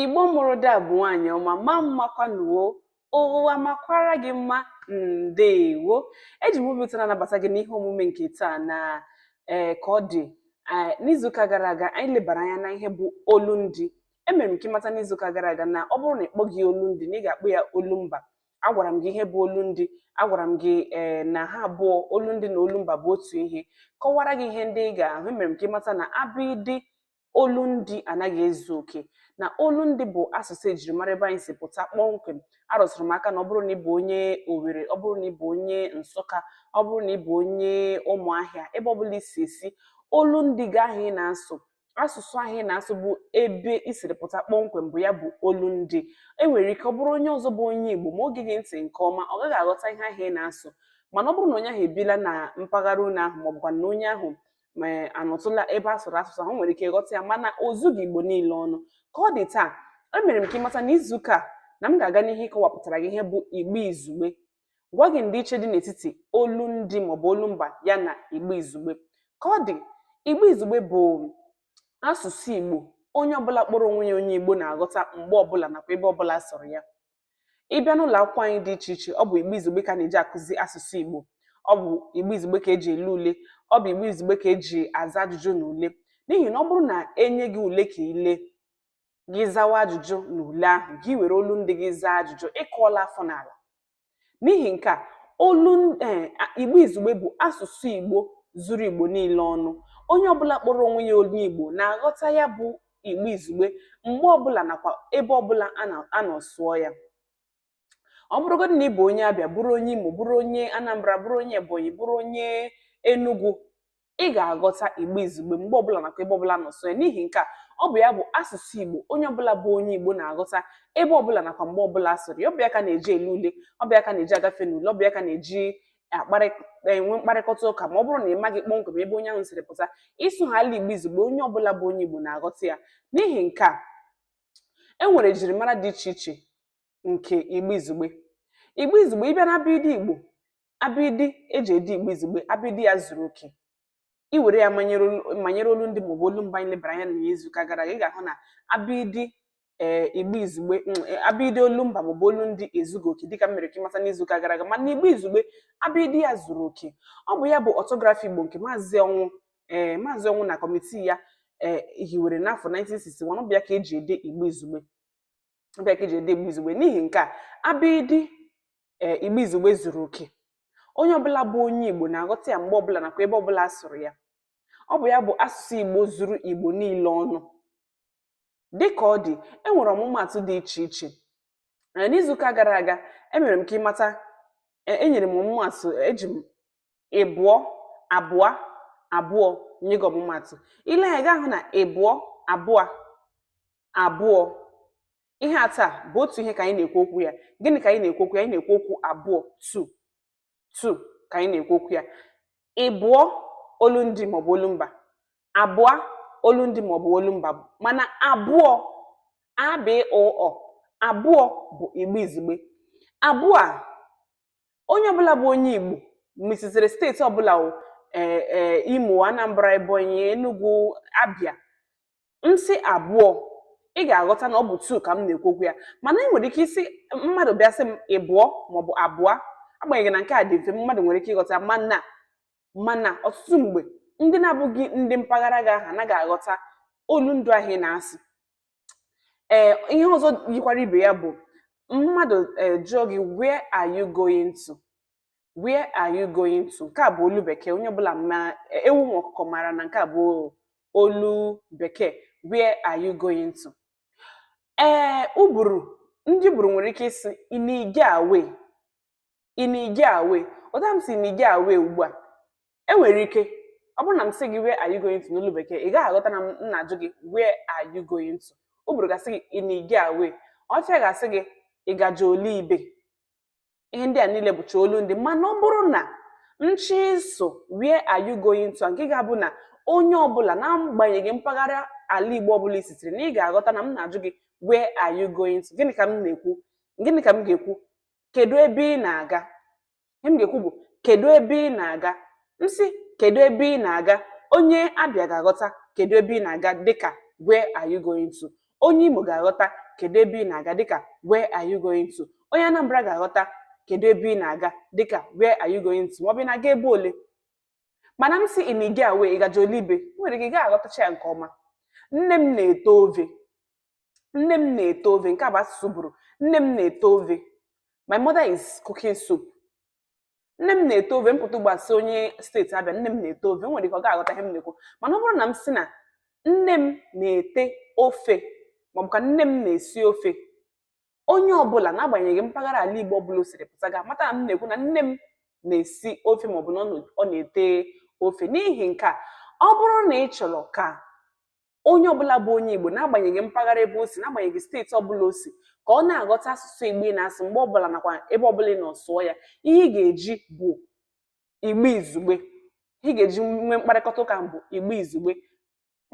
Igbo mụrụ ada bụ nwaanyị ọma mma mmakwa nụ o ụwa makwara gị mma ndeewo eji m obi ụtọ na-anabata gị n'ihe omume nke taa na ee eh, ka ọ dị eh, n'izuụka gara aga anyị lebara anya na ihe bụ olu ndị emere m ka ị mata n'izuụka gara aga na ọ bụrụ na ị kpọghị olu ndị na ị ga-akpọ ya olu mba agwara m gị ihe bụ olu ndị agwara m gị ee eh, na ha abụọ olu ndị na olu mba bụ otu ihe kọwara gị ihe ndị ị ga-ahụ emere m ka ị mata na abịdị olu ndị anaghị ezu oke na olu ndị bụ asụsụ ejirimara ebe anyị si pụta kpọmkwem arụsịrị m aka na ọ bụrụ na ị bụ onye Owerri ọ bụrụ na ị bụ onye Nsụka ọ bụrụ na ị bụ onye Ụmụahịa ebe ọ bụla i si esi olu ndị gị ahụ ị na-asụ asụsụ ahụ ị na-asụ bụ ebe i siri pụta kpọmkwem bụ ya bụ olu ndị e nwere ike ọ bụrụ onye ọzọ bụ onye Igbo ma o geghị ntị nke ọma ọ gaghị aghọta ihe ahụ ị na-asụ mana ọ bụrụ na onye ahụ ebila na mpaghara unu ahụ maọbụkwa na onye ahụ ma anọtụla ebe a sụrụ asụsụ ahụ nwere ike ịghọta ya mana o zughị igbo niile ọnụ ka ọ dị taa emere m ka ị mata na izuụka a na m ga-aga n'ihu ịkọwapụtara gị ihe bụ igbo izugbe gwa gị ndịiche dị n'etiti olu ndị maọbụ olu mba ya na igbo izugbe ka ọ dị igbo izugbe bụ asụsụ igbo onye ọbụla kpọrọ onwe ya onye igbo na-aghọta mgbe ọbụla nakwa ebe ọbụla a sụrụ ya Ị bịa n'ụlọ akwụkwọ anyị dị iche iche, ọ bụ Igbo Izugbe ka a na-eji akụzi asụsụ Igbo. Ọ bụ Igbo Izugbe ka eji ele ule. Ọ bụ Igbo Izugbe ka eji aza ajụjụ na ule. N'ihi na ọ bụrụ na e nye gị ule ka i lee, gị zawa ajụjụ n'ule ahụ, gị were olu ndị gị zaa ajụjụ, ị kụọla afọ n'ala. N'ihi nke a, olu eh, Igbo Izugbe bụ asụsụ Igbo zuru Igbo niile ọnụ. Onye ọbụla kpọrọ onwe ya onye Igbo na-aghọta ya bụ igbo izugbe mgbe ọbụla nakwa ebe ọbụla a nọ sụọ ya ọ bụrụgodị na ị bụ onye abịa bụrụ onye imo bụrụ onye anambra bụrụ onye ebonyi bụrụ onye enugu ị ga-aghọta igbo izugbe mgbe ọbụla nakwa ebe ọbụla a nọ sụọ ya n'ihi nke a ọ bụ ya bụ asụsụ igbo onye ọbụla bụ onye igbo na-aghọta ebe ọbụla nakwa mgbe ọbụla a sụrụ ya ọ bụ ya ka a na-eji ele ule ọ bụ ya ka a na-eji agafe n'ule ọ bụ ya ka a na-eji akparị enwe mkparịkọta ụka ma ọ bụrụ na ị maghị kpọmkwem ebe onye ahụ siri pụta ị sụhaala igbo izugbe onye ọbụla bụ onye igbo na-aghọta ya n'ihi nke a e nwere ejirimara dị iche iche nke igbo izugbe igbo izugbe ị bịa na abịdị igbo abịdị eji ede igbo izugbe abịdị ya zuru oke i were ya manyere olu ndị maọbụ olu mba anyị lebara anya n'izu ụka gara aga ị ga-ahụ na abịdị ee eh, igbo izugbe mm, eh, abịdị olu mba maọbụ olu ndị ezughị oke dịka m mere ka ị mata n'izu ụka gara aga mana igbo izugbe abịdị ya zuru oke ọ bụ ya bụ ọtọgrafi igbo nke maazị ọnwụ ee eh, maazị ọnwụ na kọmitii ya ee hiwere n'afọ 1961 ọ bụ ya ka eji ede igbo izugbe ọ bụ ya ka eji ede igbo izugbe n'ihi nke a abịịdịị igbo izugbe zuru oke onye ọbụla bụ onye igbo na-aghọta ya mgbe ọbụla nakwa ebe ọbụla a sụrụ ya ọ bụ ya bụ asụsụ igbo zuru igbo niile ọnụ dị ka ọ dị e nwere ọmụmaatụ dị iche iche Ee, n'izu ụka gara aga emere m ka ị mata e- enyere m ọmụmaatụ eji m ịbụọ abụọ abụọ nye gị ọmụmaatụ i lee anya ị ga-ahụ na ịbụọ abụọ abụọ ihe atọ a bụ otu ihe ka anyị na-ekwu okwu ya gịnị ka anyị na-ekwu okwu ya anyị na-ekwu okwu abụọ two two ka anyị na-ekwu okwu ya ịbụọ olu ndị maọbụ olu mba abụọ olu ndị maọbụ olu mba mana abụọ abụọ abụọ bụ igbo izugbe abụọ onye ọbụla bụ onye Igbo ma i sitere steeti ọbụla o ee ee Imo Anambra Ebonyi Enugu Abia m sị abụọ ị ga-aghọta na ọ bụ two ka m na-ekwu okwu ya mana ị nwere ike ịsị mmadụ bịa sị m ịbụọ maọbụ abụọ agbanyeghị na nke a dị mfe mmadụ nwere ike ịghọta mana mana ọtụtụ mgbe ndị na-abụghị ndị mpaghara gị ahụ anaghị aghọta olu ndị ahụ ị na-asụ ee ihe ọzọ yikwara ibe ya bụ mmadụ ee jụọ gị where are you going to where are you going to nke a bụ olu bekee onye ọbụla ma ewu ma ọkụkọ mara na nke a bụ olu bekee where are you going to ee Uburu ndị Uburu nwere ike ịsị ị na-ige awe ị na-ige awe otu a m sị ị na-ige awe ugbu a enwere ike ọ bụrụ na m asịghị where are you going to n'olu bekee ị gaghị aghọta na m na-ajụ gị where are you going to Uburu ga-asị gị ị na-ige awe Ọhafịa ga-asị gị ị gaje ole ibe ihe ndị a niile bụcha olu ndị mana ọ bụrụ na m chọọ ịsụ where are you going to nke ga-abụ na onye ọbụla na-agbanyeghị mpaghara ala Igbo ọbụla i sitere na ị ga-aghọta na m na-ajụ gị where are you going to gịnị ka m na-ekwu gịnị ka m ga-ekwu kedu ebe ị na-aga ihe m ga-ekwu bụ kedu ebe ị na-aga m sị kedu ebe ị na-aga onye abia ga-aghọta kedu ebe ị na-aga dịka where are you going to onye imo ga-aghọta kedu ebe ị na-aga dịka where are you going to onye anambra ga-aghọta kedu ebe ị na-aga dịka where are you going to maọbụ ị na-aga ebe ole mana m sị ị na-ige awe ị gaje ole ibe nwere ike ị gaghị aghọtacha ya nke ọma nne m na-ete ove nne m na-ete ove nke a bụ asụsụ Uburu nne m na-ete ove my mother is cooking soup nne m na-ete ove m pụta ugbu a sị onye steeti Abia nne m na-ete ove nwere ike ọ gaghị aghọta ihe m na-ekwu mana ọ bụrụ na m sị na nne m na-ete ofe maọbụ ka nne m na-esi ofe onye ọbụla n'agbanyeghị mpaghara ala Igbo ọbụla o siri pụta ga-amata na m na-ekwu na nne m na-esi ofe maọbụ na ọ na-ete ofe n'ihi nke a ọ bụrụ na ị chọrọ ka onye ọbụla bụ onye Igbo n'agbanyeghị mpaghara ebe o si n'agbanyeghị steeti ọbụla o si ka ọ na-aghọta asụsụ Igbo ị na-asụ mgbe ọbụla nakwa ebe ọbụla ị nọ sụọ ya ihe ị ga-eji bụ Igbo izugbe ihe ị ga-eji nwee mkparịkọta ụka bụ Igbo izugbe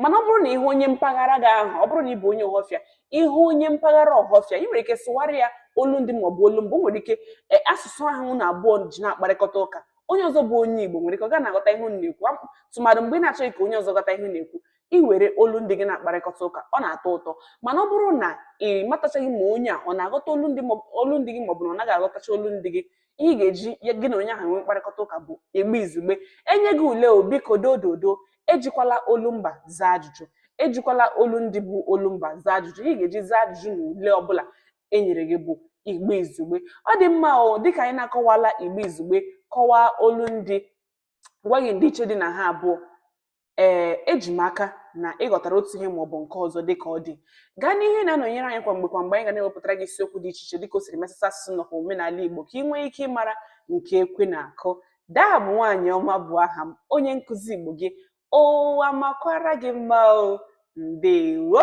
mana ọ bụrụ na ị hụ onye mpaghara gị ahụ ọ bụrụ na ị bụ onye Ọhọfịa ị hụ onye mpaghara Ọhọfịa ị nwere ike sụwara ya olu ndị maọbụ olu mba nwere ike e, asụsụ ahụ unu abụọ ji na-akparịkọta ụka onye ọzọ bụ onye Igbo nwere ike ọ gaghị na-aghọta ihe unu na-ekwu tụmadụ mgbe ị na-achọghị ka onye ọzọ ghọta ihe unu na-ekwu ị were olu ndị gị na-akparịkọta ụka ọ na-atọ ụtọ mana ọ bụrụ na ị matachaghị ma onye a ọ na-aghọta olu ndị olu ndị gị maọbụ na ọ naghị aghọtacha olu ndị gị ihe ị ga-eji ya gị na onye ahụ nwee mkparịkọta ụka bụ Igbo izugbe e nye gị ule o biko dododo ejikwala olu mba zaa ajụjụ ejikwala olu ndị bụ olu mba zaa ajụjụ ihe ị ga-eji zaa ajụjụ na ule ọbụla e nyere gị bụ Igbo izugbe ọ dị mma o dịka anyị na-akọwala Igbo izugbe kọwaa olu ndị gwa gị ndịiche dị na ha abụọ ee eji m aka na ị ghọtara otu ihe maọbụ nke ọzọ dịka ọ dị gaa n'ihu na-anọnyere anyị kwa mgbe kwa mgbe anyị ga na-ewepụtara gị isiokwu dị iche iche dịka o siri metụta asụsụ nakwa omenala Igbo ka ị nwee ike ịmara nke ekwe na-akụ daa bụ nwaanyị ọma bụ aha m onye nkụzi Igbo gị ụwa makwara gị mma o ndewo